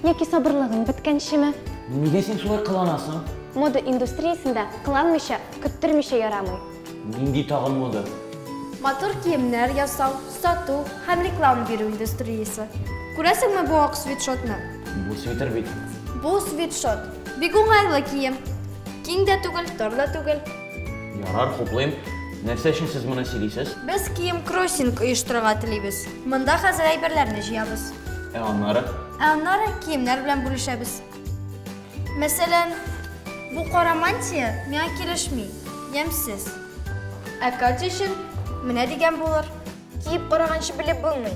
Яки сабырлыгың беткәнчеме? Нигә син шулай кыланасың? Мода индустриясендә кыланмыйча, көттермичә ярамый. Нинди тагын мода? Матур киемнәр ясау, сату һәм реклама бирү индустриясе. Күрәсеңме бу ак свитшотны? Бу свитер бит. Бу свитшот. Бик уңайлы кием. Киң дә түгел, тар да түгел. Ярар, хуплыйм. Нәрсә өчен сез моны сөйлисез? Без кием кроссинг оештырырга телибез. Монда хәзер әйберләрне җыябыз. Ә аннары? Ә аннары киемнәр белән бүлешәбез. Мәсәлән, бу кара мантия миңа килешми, ямьсез. Ә Катя өчен менә дигән булыр. Киеп караганчы белеп булмый.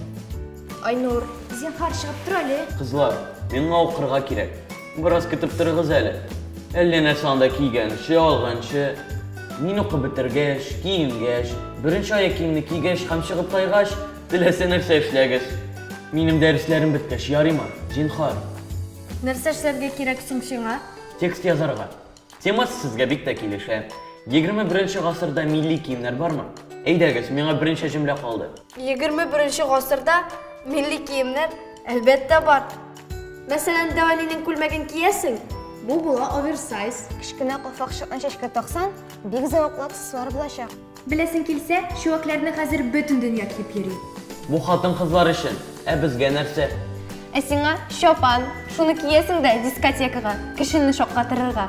Айнур, зинхар чыгып тор әле. Кызлар, миңа укырга кирәк. Бераз көтеп торыгыз әле. Әллә нәрсә анда кийгәнче, алганчы. Мин укып бетергәч, киенгәч, беренче аяк киемне кигәч һәм чыгып тайгач, теләсә нәрсә эшләгез. Минем дәресләрем беткәч, ярыймы? Зинхар. Нәрсә эшләргә кирәк соң сиңа? Текст язарга. Темасы сезгә бик тә килешә. 21 гасырда милли киемнәр бармы? Әйдәгез, миңа берничә җөмлә калды. 21 гасырда милли киемнәр, әлбәттә, бар. Мәсәлән, Дәвалинең күлмәген киясең, бу була оверсайз. Кечкенә калфакчыкны чәчкә таксаң, бик зәвыклы аксессуар булачак. Беләсең килсә, чүәкләрне хәзер бөтен дөнья киеп йөри. Бу хатын-кызлар өчен, ә безгә нәрсә? Ә сиңа, чапан, шуны киясең дә дискотекага, кешене шаккатырырга.